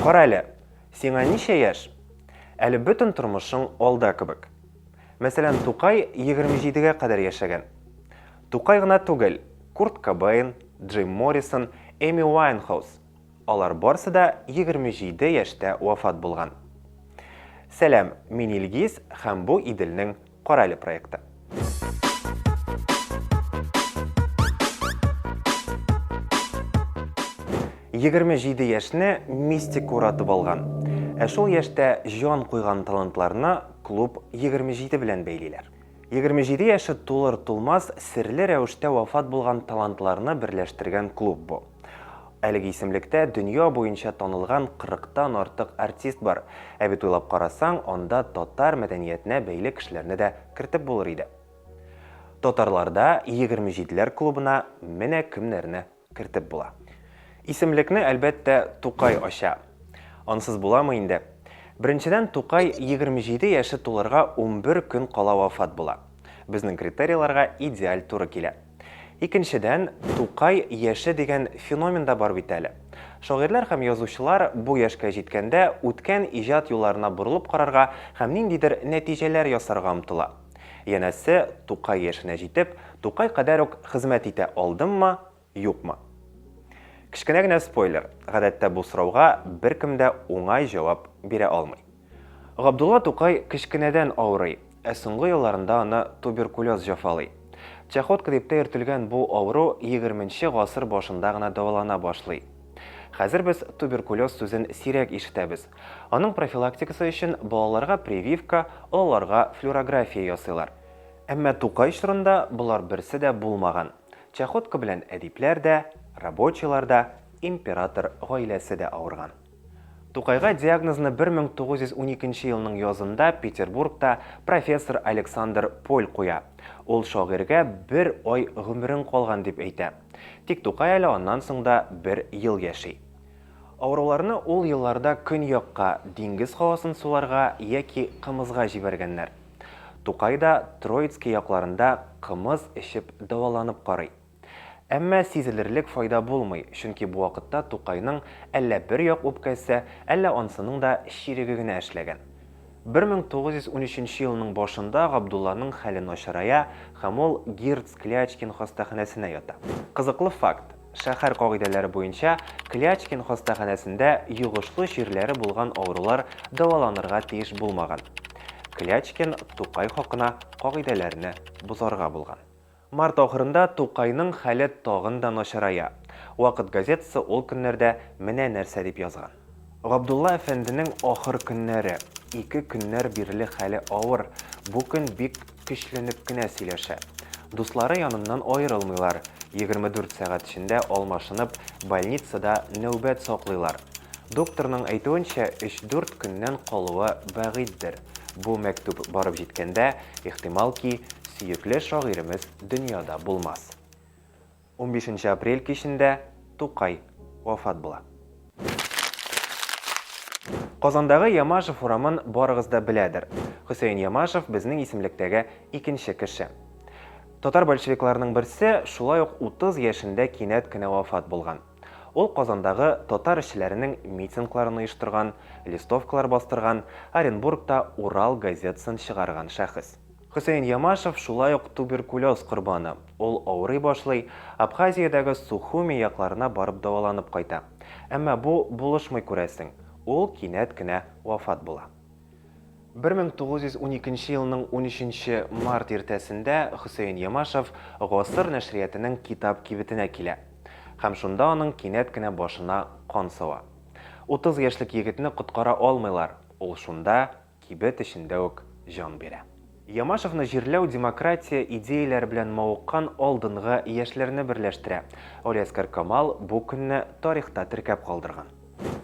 Кара әле, сиңа ничә яшь? Әле бөтен тормышың алда кебек. Мәсәлән, Тукай 27-гә кадәр яшәгән. Тукай гына түгел, Курт Кобейн, Джим Моррисон, Эми Уайнхаус, алар барсы да 27 яшьтә вафат булган. Сәлам, мин Илгиз һәм бу Иделнең Кара әле проектта. Егерме җиде яшьне мистик уратып алган. Ә шул яшьтә җан куйган талантларны клуб 27 белән бәйлиләр. 27 яше тулыр-тулмас серле рәвештә вафат булган талантларны берләштергән клуб бу. Әлеге исемлектә дөнья буенча танылган 40 тан артык артист бар. Ә бит уйлап карасаң, анда татар мәдәниятенә бәйле кешеләрне дә кертеп булыр иде. Татарларда егерме җиделәр клубына менә кемнәрне кертеп була. Исемлекне, әлбәттә, Тукай ача. Ансыз буламы инде? Беренчедән, Тукай егерме җиде яше тулырга унбер көн кала вафат була. Безнең критерийларга идеаль туры килә. Икенчедән, Тукай яше дигән феномен да бар бит әле. Шагыйрьләр һәм язучылар бу яшькә җиткәндә үткән иҗат юлларына борылып карарга һәм ниндидер нәтиҗәләр ясарга омтыла. Янәсе, Тукай яшенә җитеп, Тукай кадәр үк хезмәт итә алдыммы, юкмы? Кечкенә генә спойлер, гадәттә бу сорауга беркем дә уңай җавап бирә алмый. Габдулла Тукай кечкенәдән авырый, ә соңгы елларында аны туберкулез җафалый. Чахотка дип тә йөртелгән бу авыру егерменче гасыр башында гына дәвалана башлый. Хәзер без туберкулез сүзен сирәк ишетәбез. Аның профилактикасы өчен балаларга прививка, олыларга флюорография ясыйлар. Әмма Тукай чорында болар берсе дә булмаган. Чахотка белән әдипләр дә, рабочийлар да, император гаиләсе дә авырган. Тукайга диагнозны 1912 елның язында Петербургта профессор Александр Поль куя. Ул шагыйрьгә бер ай гомерең калган дип әйтә. Тик Тукай әле аннан соң да бер ел яши. Авыруларны ул елларда көньякка, диңгез һавасын суларга яки кымызга җибәргәннәр. Тукай да Троицки якларында кымыз эчеп дәваланып карый. Әмма сизелерлек файда булмый, чөнки бу вакытта Тукайның әллә бер як үпкәсе, әллә анысының да чиреге генә эшләгән. 1913 елның башында Габдулланың хәле начарая һәм ул Гирц-Клячкин хастаханәсенә ята. Кызыклы факт, шәһәр кагыйдәләре буенча, Клячкин хастаханәсендә йогышлы чирләре булган авырулар дәваланырга тиеш булмаган. Клячкин Тукай хакына кагыйдәләрне бозарга булган. Март ахырында Тукайның хәле тагын да начарая. Вакыт газетасы ул көннәрдә менә нәрсә дип язган. Габдулла әфәнденең ахыр көннәре. Ике көннәр бирле хәле авыр, бу көн бик көчләнеп кенә сөйләшә. Дуслары яныннан аерылмыйлар, егерме дүрт сәгать эчендә алмашынып, больницада нәүбәт саклыйлар. Докторның әйтүенчә, өч-дүрт көннән калуы бәгыйтьдер. Бу мәктүп барып җиткәндә, Ихтимал ки, сөекле шагыйремез дөньяда булмас. Унбишенче апрель кичендә Тукай вафат була. Казандагы Ямашев урамын барыгыз да беләдер. Хөсәен Ямашев безнең исемлектәге икенче кеше. Татар большевикларының берсе шулай ук 30 яшендә кинәт кенә вафат булган. Ул Казандагы татар эшчеләренең митингларын оештырган, листовкалар бастырган, Оренбургта Урал газетасын чыгарган шәхес. Хөсәен Ямашев шулай ук туберкулез корбаны. Ул авырый башлый, Абхазиядәге Сухуми якларына барып дәваланып кайта. Әмма бу булышмый күрәсең, ул кинәт кенә вафат була. 1912 елның 13 март иртәсендә Хөсәен Ямашев Гасыр нәшриятының китап кибетенә килә. Һәм шунда аның кинәт кенә башына кан сава. 30 яшьлек егетне коткара алмыйлар, ул шунда, кибет эчендә үк җан бирә. Ямашевны җирләү демократия идеяләре белән мавыккан алдынгы яшьләрне берләштерә. Алиәскар Камал бу көнне тарихта теркәп калдырган.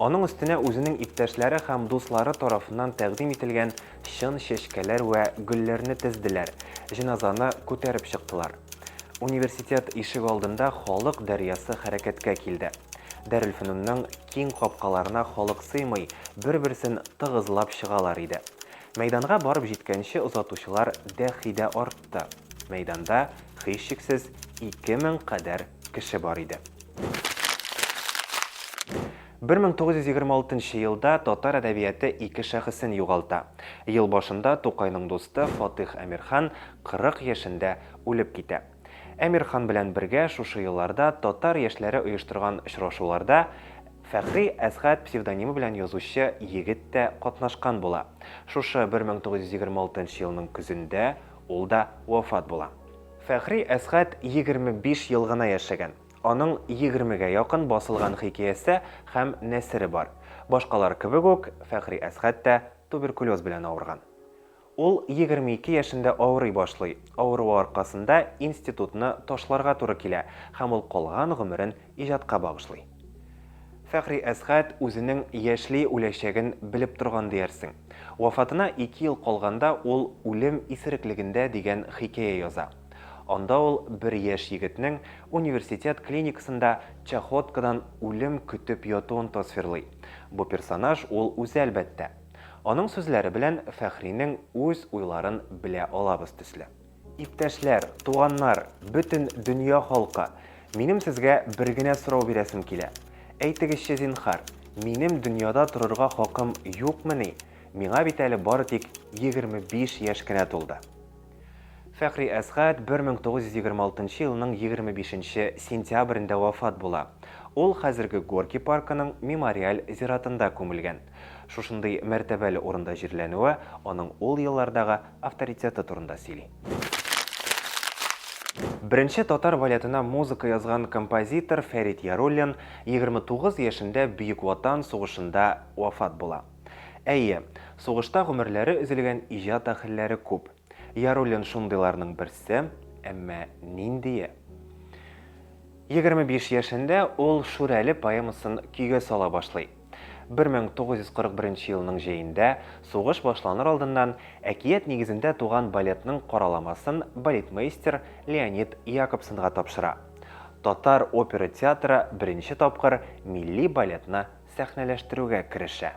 Аның өстенә үзенең иптәшләре һәм дуслары тарафыннан тәкъдим ителгән чын чәчкәләр вә гөлләрне тезделәр, җеназаны күтәреп чыктылар. Университет ишегалдында халык дәрьясы хәрәкәткә килде. Дарелфөнүннең киң капкаларына халык сыймый, бер-берсен тыгызлап чыгалар иде. Мәйданга барып җиткәнче озатучылар дәхи дә артты. Мәйданда, һичшиксез, ике мең кадәр кеше бар иде. Бер мең тугыз йөз егерме алтынчы елда татар әдәбияты ике шәхесен югалта. Ел башында Тукайның дусты Фатыйх Әмирхан 40 яшендә үлеп китә. Әмир хан белән бергә шушы елларда татар яшьләре оештырган очрашуларда Фәхри Әсгать псевдонимы белән язучы егет тә катнашкан була. Шушы 1926 елның көзендә ул да вафат була. Фәхри Әсгать 25 ел гына яшәгән. Аның егермегә якын басылган хикәясе һәм нәсере бар. Башкалар кебек үк, Фәхри Әсгать тә туберкулез белән авырган. Ул егерме ике яшендә авырый башлый, авыруы аркасында институтны ташларга туры килә һәм ул калган гомерен иҗатка багышлый. Фәхри Әсгать үзенең яшьли үләчәген белеп торган диярсең. Вафатына ике ел калганда ул Үлем исереклегендә дигән хикәя яза. Анда ул бер яшь егетнең университет клиникасында чахоткадан үлем көтеп ятуын тасвирлый. Бу персонаж ул үзе, әлбәттә. Аның сүзләре белән Фәхринең үз уйларын белә алабыз төсле. Иптәшләр, туганнар, бөтен дөнья халкы, минем сезгә бер генә сорау бирәсем килә. Әйтегезче, зинһар, минем дөньяда торырга хакым юкмыни? Миңа бит әле бары тик егерме биш яшь кенә тулды. Фәхри Әсгать 1926 елның 25 нче сентябрендә вафат була. Ул хәзерге Горький паркының мемориаль зиратында күмелгән. Шушындый мәртәбәле урында җирләнүе аның ул еллардагы авторитеты турында сөйли. Беренче татар балетына музыка язган композитор Фәрит Яруллин 29 яшендә Бөек Ватан сугышында вафат була. Әйе, сугышта гомерләре өзелгән иҗат әһелләре күп. Яруллин шундыйларның берсе, әмма ниндие? Егерме биш яшендә ул Шүрәле поэмасын көйгә сала башлый. 1941 елның җәендә, сугыш башланыр алдыннан, әкият нигезендә туган балетның караламасын балетмейстер Леонид Якобсонга тапшыра. Татар опера театры беренче тапкыр милли балетны сәхнәләштерүгә керешә.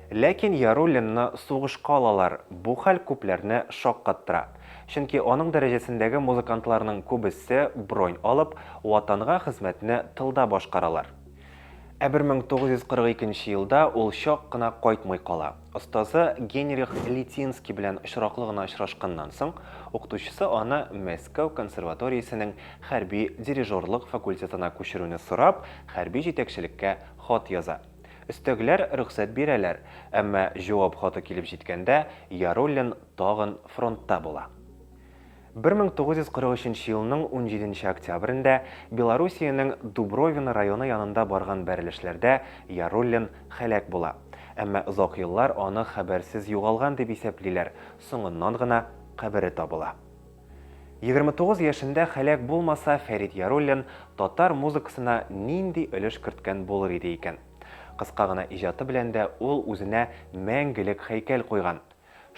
Ләкин Яруллинны сугышка алалар, бу хәл күпләрне шаккаттыра, чөнки аның дәрәҗәсендәге музыкантларның күбесе бронь алып, Ватанга хезмәтне тылда башкаралар. Ә 1942 нче елда ул чак кына кайтмый кала. Остазы Генрих Литинский белән очраклы гына очрашканнан соң, укытучысы аны Мәскәү консерваториясенең хәрби дирижерлык факультетына күчерүне сорап, хәрби җитәкчелеккә хат яза. Өстәгеләр рөхсәт бирәләр, әмма җавап хаты килеп җиткәндә, Яруллин тагын фронтта була. 1943 елның 17 нче октябрендә Белоруссиянең Дубровино районы янында барган бәрелешләрдә Яруллин һәлак була. Әмма озак еллар аны хәбәрсез югалган дип исәплиләр, соңыннан гына кабере табыла. 29 яшендә һәлак булмаса, Фәрит Яруллин татар музыкасына нинди өлеш керткән булыр иде икән? Кыска гына иҗаты белән дә ул үзенә мәңгелек һәйкәл куйган.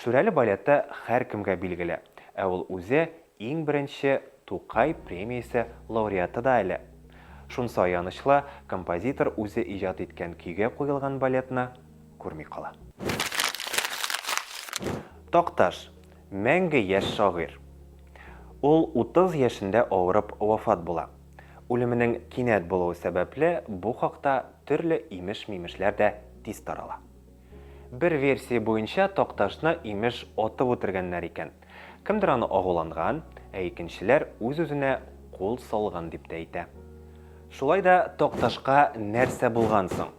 Шүрәле балеты һәркемгә билгеле, ә ул үзе иң беренче Тукай премиясе лауреаты да әле. Шунсы аянычлы, композитор үзе иҗат иткән көйгә куелган балетны күрми кала. Такташ, мәңге яшь шагыйрь. Ул утыз яшендә авырып вафат була. Үлеменең кинәт булуы сәбәпле, бу хакта төрле имеш-мимешләр дә тиз тарала. Бер версия буенча, Такташны, имеш, атып үтергәннәр икән. Кемдер аны агуланган, ә икенчеләр үз-үзенә кул салган дип тә әйтә. Шулай да Такташка нәрсә булган соң?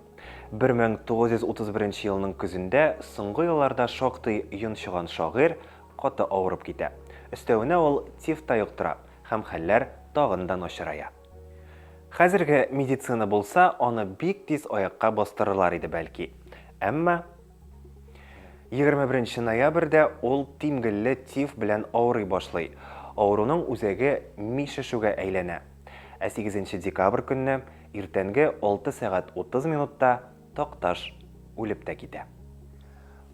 1931 елның көзендә соңгы елларда шактый йончыган шагыйрь каты авырып китә. Өстәвенә ул тифта йоктыра һәм хәлләр тагын да начарая. Хәзерге медицина булса, аны бик тиз аякка бастырырлар иде, бәлки. Әмма 21 ноябрьдә ул тимгелле тиф белән авырый башлый. Авыруның үзәге ми шешүгә әйләнә. Ә 8 декабрь көнне иртәнге 6 сәгать 30 минутта Такташ үлеп тә китә.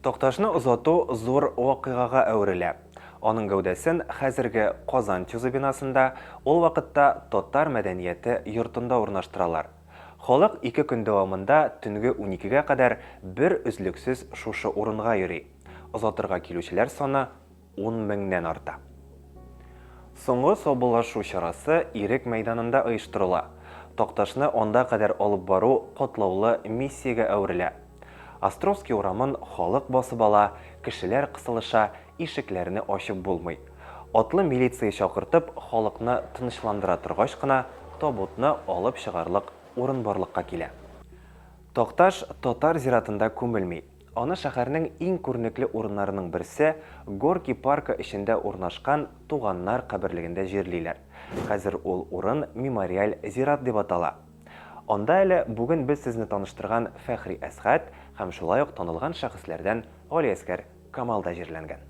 Такташны озату зур вакыйгага әверелә. Аның гәүдәсен хәзерге Казан ТЮЗы бинасында, ул вакытта Татар мәдәнияте йортында урнаштыралар. Халык ике көн дәвамында төнге уникегә кадәр бер өзлексез шушы урынга йөри. Озатырга килүчеләр саны. Ун меңнән арта. Соңгы саубуллашу чарасы Ирек мәйданында оештырыла. Такташны анда кадәр алып бару катлаулы миссиягә әверелә. Островский урамын халык басып ала, кешеләр кысылыша, ишекләрне ачып булмый. Атлы милиция чакыртып, халыкны тынычландыра торгач кына, табутны алып чыгарлык урын барлыкка килә. Такташ татар зиратында күмелми, Аны шәһәрнең иң күренекле урыннарының берсе, Горки паркы эчендә урнашкан Туганнар каберлегендә җирлиләр. Хәзер ул урын мемориаль зират дип атала. Анда әле бүген без сезне таныштырган Фәхри Әсгать һәм шулай ук танылган шәхесләрдән Галиәсгар Камал да җирләнгән.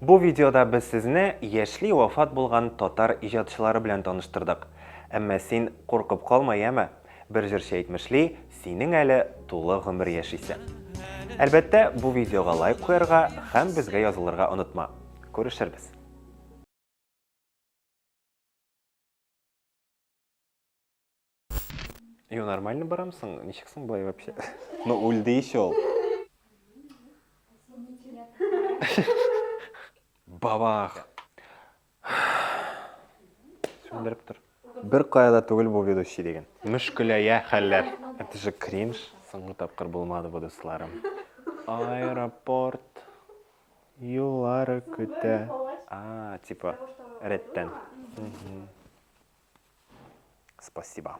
Бу видеода без сезне яшьли вафат булган татар иҗатчылары белән таныштырдык. Әмма син куркып калма, яме? Бер җырчы әйтмешли, синең әле тулы гомер яшисең. Әлбәттә, бу видеога лайк куярга һәм безгә язылырга онытма. Күрешербез. Йо, нормально барамсың? Ничек соң былай вообще? Ну, үлде еще ул. Бабах! Сүндереп тор. Бер кая да түгел бу ведущий диген. Мөшкеләя хәлләр. Это же кринж. Соңгы тапкыр булмады бу, дусларым. Аэропорт юллары көтә. А, типа, рәттән. Спасибо.